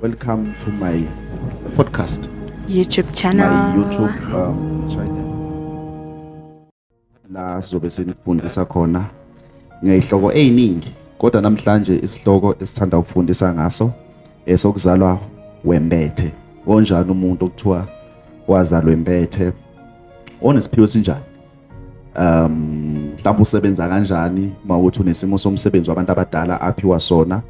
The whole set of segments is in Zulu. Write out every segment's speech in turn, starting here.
Welcome to my podcast. YouTube channel. My YouTube um, channel. La sizobe senifundisa khona ngezihloko eziningi kodwa namhlanje isihloko esithanda ukufundisa ngaso esokuzalwa wembethe. Onjani umuntu okuthiwa wazalwa wembethe? Onesiphiwo sinjani? um mhlawumbe usebenza kanjani uma ukuthi unesimo somsebenzi wabantu abadala aphiwa sona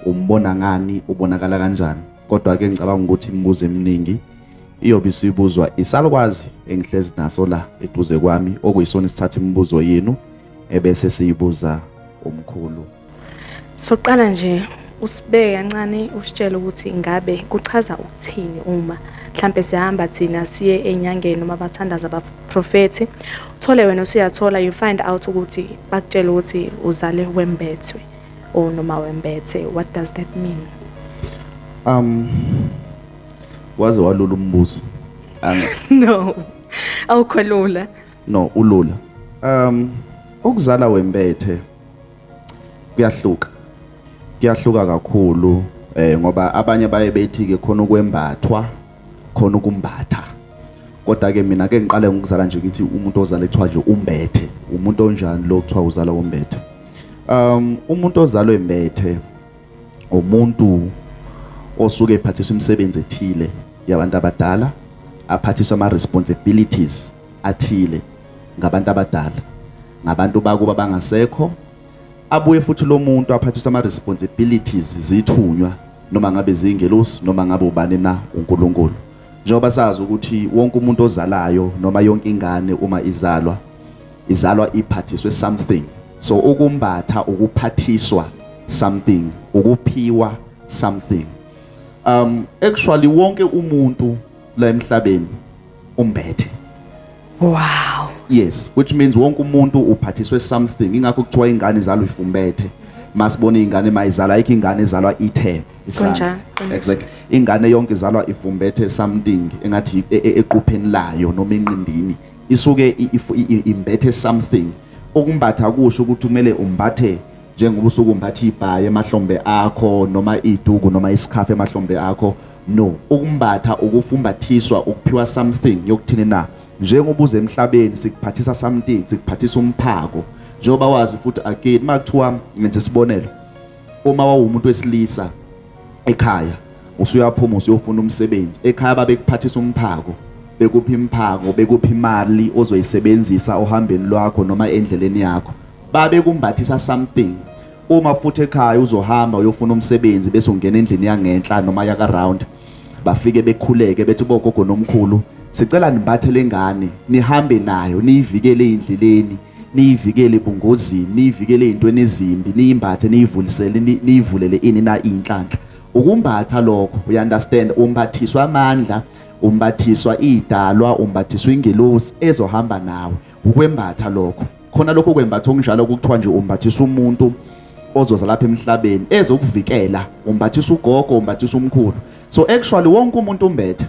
umbona ngani ubonakala kanjani kodwa ke ngicabanga ukuthi imibuzo eminingi iyobe isibuzwa isalukwazi engihlezi naso la eduze kwami okuyisona isithatha imibuzo yenu ebese siyibuza umkhulu Soqala nje usibeke kancane usitshele ukuthi ngabe kuchaza ukuthini uma mhlampe sihamba thina siye enyangeni noma bathandaza abaprofethi uthole wena usuyathola you find out ukuthi bakutshela ukuthi uzale wembethwe or noma wembethe what does that mean um waze walula umbuzo no awukholula no ulula um ukuzala wembethe kuyahluka kuyahluka kakhulu eh ngoba abanye baye bethi ke khona ukwembathwa khona ukumbatha kodwa ke mina ke ngiqale ngokuzala nje ukuthi umuntu ozalethwa nje umbethe umuntu onjani lo kuthiwa uzala umbethe um umuntu ozalwe embethe umuntu osuke ephathiswa imisebenzi ethile yabantu abadala aphathiswa ama responsibilities athile ngabantu abadala ngabantu bakuba bangasekho abuye futhi lo muntu aphathiswa ama-responsibilities zithunywa noma ngabe zingelosi noma ngabe ubani na uNkulunkulu njengoba sazi ukuthi wonke umuntu ozalayo noma yonke ingane uma izalwa izalwa iphathiswe something so ukumbatha ukuphathiswa something ukuphiwa something um actually wonke umuntu la emhlabeni umbethe wow yes which means wonke umuntu uphathiswe something ingakho kuthiwa ingane izalwa ifumbethe masibona ingane mayizala ayikho ingane izalwa ithe isandla exactly ingane yonke izalwa ifumbethe something engathi e, e, equpheni layo noma enqindini isuke imbethe something ukumbatha kusho ukuthi kumele umbathe njengoba usuke umbatha ibhayi emahlombe akho noma iduku noma isikhafu emahlombe akho no ukumbatha ukufumbathiswa ukuphiwa something yokuthini na njengoba uze emhlabeni sikuphathisa something sikuphathisa umphako njengoba wazi futhi again makuthiwa ngenze isibonelo uma wawumuntu wesilisa ekhaya usuyaphuma usuyofuna umsebenzi ekhaya babekuphathisa umphako bekuphi imphako bekuphi imali ozoyisebenzisa ohambeni lwakho noma endleleni yakho babe kumbathisa something uma futhi ekhaya uzohamba uyofuna umsebenzi bese ungena endlini yangenhla noma yaka round bafike bekhuleke bethi bogogo nomkhulu sicela nimbathe lengane nihambe nayo niyivikele endleleni niyivikele ebungozini niyivikele ezintweni ezimbi niyimbathe niyivulisele niyivulele ini na inhlanhla ukumbatha lokho you understand umbathiswa amandla umbathiswa idalwa umbathiswa ingelosi ezohamba nawe ukwembatha lokho khona lokho kwembatha okunjalo kuthiwa nje umbathisa umuntu ozoza lapha emhlabeni ezokuvikela umbathisa ugogo umbathisa umkhulu so actually wonke umuntu umbethe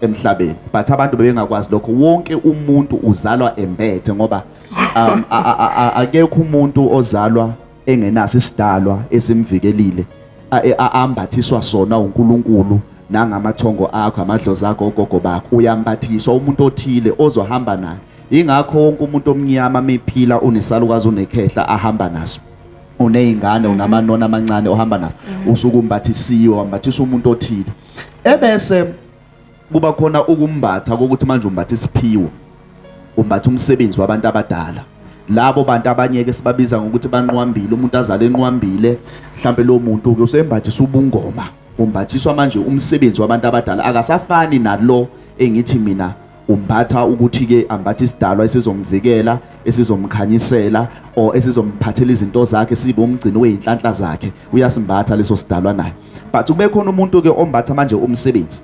emhlabeni but abantu bebengakwazi lokho wonke umuntu uzalwa embethe ngoba um, akekho umuntu ozalwa engenaso isidalwa esimvikelile ambathiswa sona uNkulunkulu nangamathongo akho amadlozi akho ogogo bakho uyambathiswa umuntu othile ozohamba naye ingakho wonke umuntu omnyama mephila unesalukazi unekhehla ahamba naso uneyingane unamanona amancane ohamba naso usukumbathisiwe wambathisa umuntu othile ebese kuba khona ukumbatha kokuthi manje umbatha isiphiwo umbatha umsebenzi wabantu abadala labo bantu abanyeke sibabiza ngokuthi banqwambile umuntu azale enqwambile mhlambe lo muntu ke usembathisa ubungoma umbathiswa manje umsebenzi wabantu abadala akasafani nalo engithi mina umbatha ukuthi ke ambathe isidalwa esizomvikela esizomkhanyisela or esizomphathela izinto zakhe sibe umgcini weyinhlanhla zakhe uyasimbatha leso sidalwa naye but kube khona umuntu ke ombatha manje umsebenzi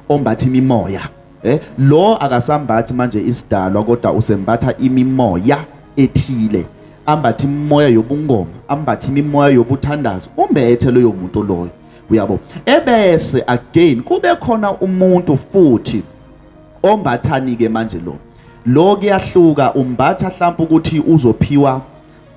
ombatha imimoya eh lo akasambathi manje isidalwa kodwa usembatha imimoya ethile ambatha imimoya yobungoma ambatha imimoya yobuthandazo umbethe loyo muntu loyo uyabo ebese again kube khona umuntu futhi ombathani ke manje lo lo kuyahluka umbatha mhlawumbe ukuthi uzophiwa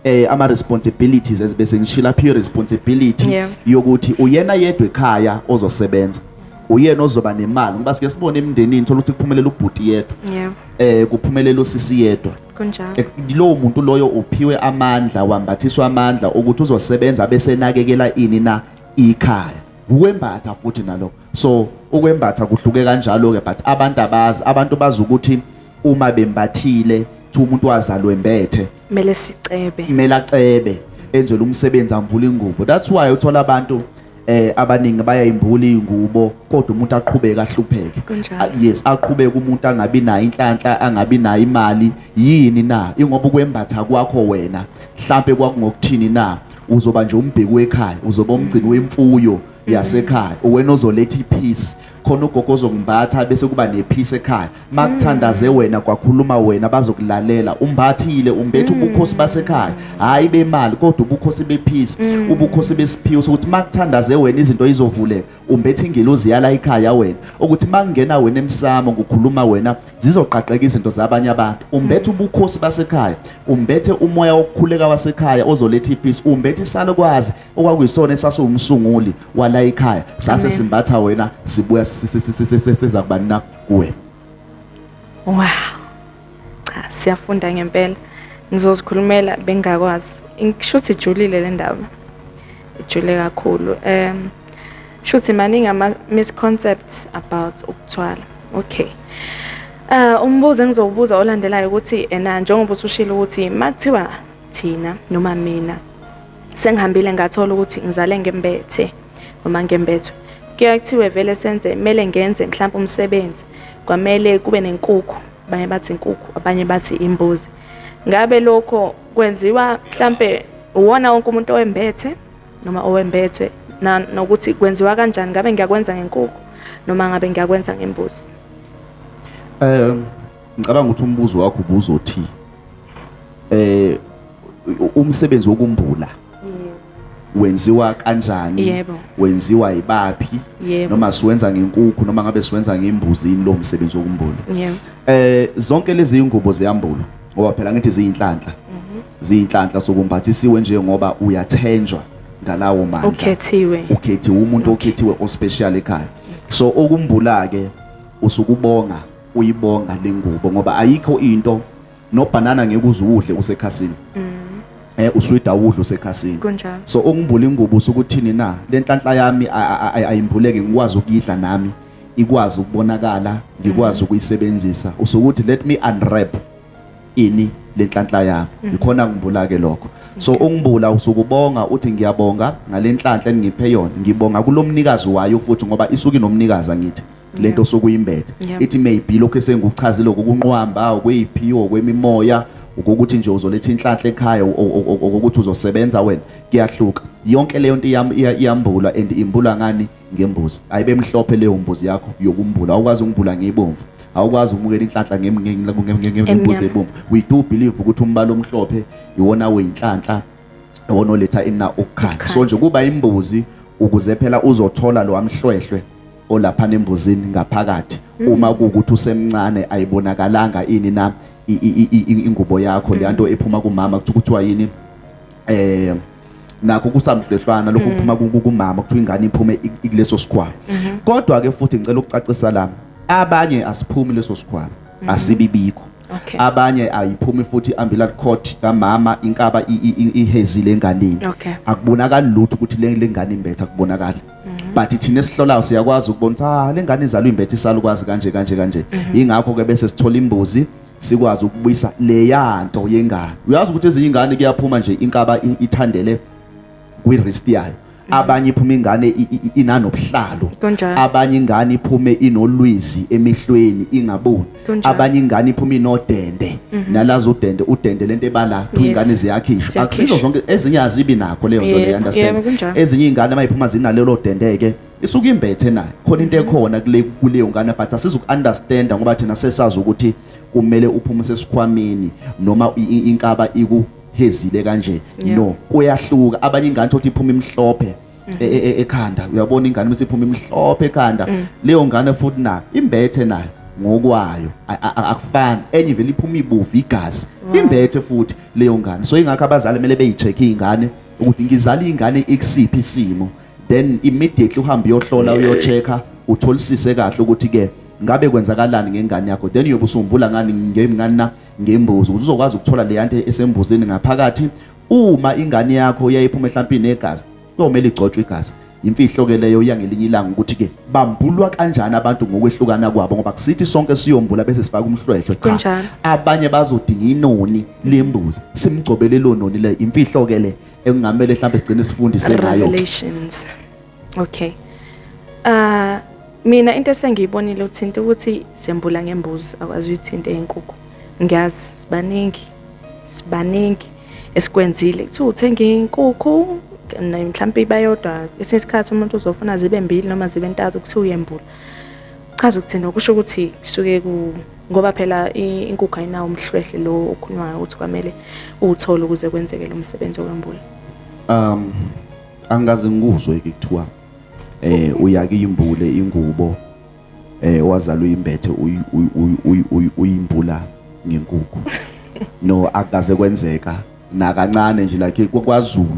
eh ama responsibilities ezibese ngishila phi responsibility yeah. yokuthi uyena yedwa ekhaya ozosebenza uyena ozoba nemali ngoba sike sibone emndenini thola ukuthi kuphumelela ubhuti yedwa yeah. eh kuphumelela usisi yedwa kunjalo lowo muntu loyo uphiwe amandla wambathiswa amandla ukuthi uzosebenza bese nakekela ini na ikhaya ukwembatha futhi nalokho so ukwembatha kuhluke kanjalo ke but abantu abazi abantu bazi ukuthi uma bembathile ukuthi umuntu wazalwe mbethe kumele sicebe kumele acebe enzele umsebenzi ambule ingubo that's why uthola abantu eh abaningi bayayimbula ingubo kodwa umuntu aqhubeke ahlupheke ah, yes aqhubeke umuntu angabi nayo inhlanhla angabi nayo imali yini na ingoba ukwembatha kwakho wena mhlambe kwakungokuthini na uzoba nje umbheki wekhaya uzoba umgcini wemfuyo yasekhaya uwena ozoletha ipeace khona ugogo ozongimbatha bese kuba nepeace ekhaya makuthandaze mm. wena kwakhuluma wena bazokulalela umbathile umbethe mm. ubukhosi basekhaya hayi bemali kodwa ubukhosi bepeace mm. ubukhosi besiphiwo sokuthi makuthandaze wena izinto izovuleka umbethe ingelozi yala ekhaya wena ukuthi makungena wena emsamo ngokhuluma wena zizoqaqeka izinto zabanye abantu umbethe ubukhosi basekhaya umbethe umoya wokukhuleka wasekhaya ozoletha ipeace umbethe isalukwazi okwakuyisona esasiwumsunguli wala ikhaya sase simbatha wena sibuya siza kubani na kuwe wow cha siyafunda ngempela ngizozikhulumela bengakwazi ngishuthi ijulile le ndaba ijule kakhulu um shuthi maningi ama misconcepts about ukuthwala okay Uh umbuzo engizowubuza olandelayo ukuthi ena njengoba usushilo ukuthi makuthiwa thina noma mina sengihambile ngathola ukuthi ngizale ngembethe noma ngembethwe kuye kuthiwe vele senze kumele ngenze mhlawumbe umsebenzi kwamele kube nenkukhu abanye bathi inkukhu abanye bathi imbuzi ngabe lokho kwenziwa mhlambe uwona wonke umuntu owembethe noma owembethwe nokuthi kwenziwa kanjani ngabe ngiyakwenza ngenkukhu noma ngabe ngiyakwenza ngembuzi um ngicabanga ukuthi umbuzo wakho ubuzothi eh umsebenzi wokumbula wenziwa kanjani yebo. wenziwa yibaphi Yebo. noma siwenza ngenkukhu noma ngabe siwenza ngembuzi yini lo msebenzi wokumbula yebo eh zonke lezi ingubo ziyambulwa ngoba phela ngithi ziyinhlanhla mhm. ziyinhlanhla sokumbathisiwe nje ngoba uyathenjwa ngalawo mandla ukhethiwe ukhethiwe umuntu okhethiwe ospecial ekhaya so okumbula ke usukubonga uyibonga lengubo ngoba ayikho into nobhanana ngeke uzuwudle usekhasini mm. eh uswida udla usekhasini kunjalo so ungimbula ingubo usukuthini na lenhlanhla yami ayimbuleke ngikwazi ukuyidla nami ikwazi ukubonakala ngikwazi mm. ukuyisebenzisa usukuthi let me unwrap ini lenhlanhla yami mm. ikhona ngimbula ke lokho so ungibula usukubonga uthi ngiyabonga ngalenhlanhla engiphe yona ngibonga kulomnikazi wayo futhi ngoba isuke nomnikazi angithi lento osuke uyimbethe Yep. ithi maybe lokho esenguchazile okunqwamba okweyiphiwo kwemimoya ukuthi nje uzoletha inhlanhla ekhaya o- o- o- okokuthi uzosebenza wena kuyahluka yonke leyo nto iyam- iya- iyambulwa and imbulwa ngani ngembuzi ayibe mhlophe leyo mbuzi yakho yokumbula awukwazi ukumbula ngeyibomvu awukwazi ukumukela inhlanhla ngem- nge- nge- nge- nge- ngembuzi Emnyama. ebomvu we do believe ukuthi umbala omhlophe iwona oyinhlanhla iwona oletha ina ukukhanya so nje kuba imbuzi ukuze phela uzothola lo amhlwehlwe olaphana embuzini ngaphakathi mm. uma kuukuthi usemncane ayibonakalanga ini na ingubo yakho mm. leyanto ephuma kumama kuthi kuthiwa yini eh nakho kusamhlwehlwana lokho mm. kuphuma kumama kuthiwa ingane iphume kuleso sikhwama mm-hmm. kodwa ke futhi ngicela ukucacisa la abanye asiphumi leso sikhwama mm-hmm. asibibikho okay. abanye ayiphumi futhi ambulance court kamama inkaba ihezile enganeni okay. akubonakali lutho ukuthi le ngane imbetha kubonakala Mhm. but thina esihlolayo siyakwazi ukubona ukuthi ah lengane izalwa imbethe isalukwazi kanje kanje kanje mhm. ingakho ke bese sithola imbuzi sikwazi ukubuyisa leya nto yengane uyazi ukuthi ezinye ingane kuyaphuma nje inkaba ithandele kwi wrist yayo mhm. abanye iphuma ingane inanobuhlalo abanye ingane iphume inolwizi emehlweni ingaboni Kunjalo. abanye ingane iphuma inodende nalazi udende udende lento ebala kuthiwa Yes. ingane ziyakhishwa Ziyakhishwa. akusizo zonke ezinye azibi nakho leyo nto Yebo, leyo yebo, understand kunjalo. ezinye iy'ngane uma iphuma zinalelo dende-ke isuke imbethe nayo khona into ekhona kule- kuleyo ngane but asizuku-understanda ngoba thina sesazi ukuthi kumele uphume sesikhwameni noma i- i- inkaba ikuhezile kanje Yeah. no kuyahluka abanye ingane thokuthi iphuma imhlophe mm. e, e, e, ekhanda uyabona ingane uma isiphuma imhlophe ekhanda mm. leyo ngane futhi nayo imbethe nayo ngokwayo akufani enye vele iphuma ibuvu igazi imbethe futhi leyo ngane so ingakho abazali kumele beyicheck ingane ukuthi ngizala ingane ikusiphi isimo then immediately uhambe uyohlola uyochecka utholisise kahle ukuthi ke ngabe kwenzakalani ngengane yakho then uyobe usumbula ngani ngemngani na ngembuzi uzokwazi ukuthola le yanto esembuzini ngaphakathi uma ingane yakho yayiphuma ehlampini negazi kuyomele igcotshwe igazi imfihlo ke leyo yangelinye ilanga ukuthi ke bambulwa kanjani abantu ngokwehlukana kwabo ngoba kusithi sonke siyombula bese sifaka umhlwehlwe cha abanye bazodinga inoni lembuzi simgcobele lo noni le imfihlo ke le engamele mhlawumbe sigcine sifundise ngayo revelations okay uh mina into esengiyibonile uthinta ukuthi sembula ngembuzi akwazi uyithinta enkukhu ngiyazi sibaningi sibaningi esikwenzile kuthiwa uthenga inkukhu mhlawumpe iba yodwa esinye isikhathi umuntu uzofuna zibe mbili noma zibe ntathu kuthiwa uyembula chaza ukuthina kusho ukuthi kusuke ku ngoba phela inkukhu ayinawo umhlwehle lo okhulunywayo ukuthi kwamele uwuthole ukuze kwenzeke lo msebenzi okwembula um angikaze ngikuzwe-ke kuthiwa um uyake imbule ingubo eh wazala uyimbethe uyimbula ngenkukhu no akaze kwenzeka nakancane nje like kwaZulu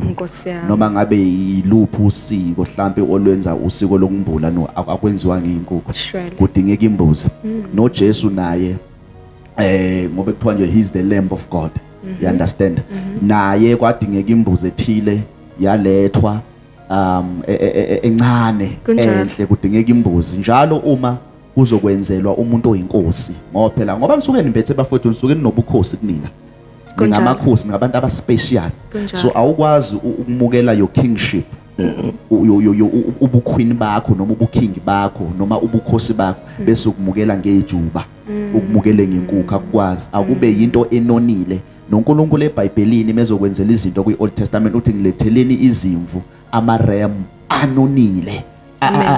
noma ngabe yiluphi usiko mhlambe olwenza usiko lokumbula no akwenziwa ngeenkukhu kudingeka imbuzi mm. no Jesu naye eh ngoba kuthiwa nje he's the lamb of God mm -hmm. you understand mm -hmm. naye kwadingeka imbuzi ethile yalethwa um e- e- e- encane Kunjalo. enhle kudingeka imbuzi njalo uma kuzokwenzelwa umuntu oyinkosi ngoba phela ngoba nisuke nimpethe bafowethu nisuke ninobukhosi kunina Kunjalo. ningamakhosi ningabantu abaspecial Kunjalo. so awukwazi u- ukumukela your kingship u- yo- yo- yo- u- ubukhwini bakho noma ubukhingi bakho noma ubukhosi bakho Mm. bese ukumukela ngejuba ukumukele ngenkukhu akukwazi akube yinto enonile noNkulunkulu eBhayibhelini mezokwenzela izinto kwi-Old Testament uthi ngiletheleni izimvu amarem anonile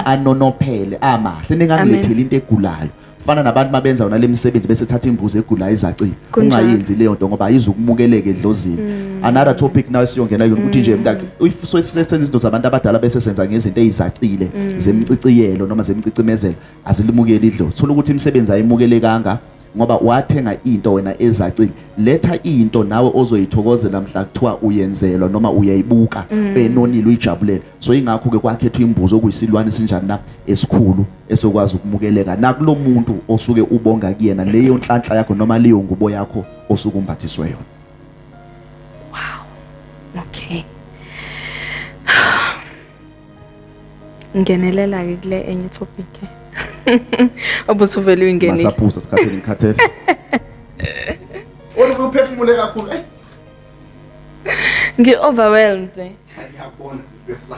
anonophele amahle ningangiletheli into egulayo fana nabantu mabenza yona lemisebenzi bese thatha imbuzi egulayo izacile ungayenzi leyo nto ngoba ayizukumukeleke edlozini mm. another topic nayo siyongena yona ukuthi nje mm. mntakhe if sosenza izinto zabantu abadala bese senza ngezinto ezizacile mm. zemciciyelo noma zemcicimezelo azilimukeli idlozi thola ukuthi imisebenzi ayimukelekanga ngoba wathenga into wena ezacile letha into nawe ozoyithokozela mhla kuthiwa uyenzelwa noma uyayibuka mm. enonile uyijabulela so ingakho ke kwakhethwa imbuzo okuyisilwane sinjani na esikhulu esokwazi ukumukeleka nakulomuntu osuke ubonga kuyena leyo nhlanhla yakho noma leyo ngubo yakho osuke umbathiswe yona wow okay ngenelela ke kule enye topic obuthi uvele uyingenile masaphuza sikhathele ngikhathele Wona uphefumule kakhulu eh ngi overwhelmed ngiyabona sibesa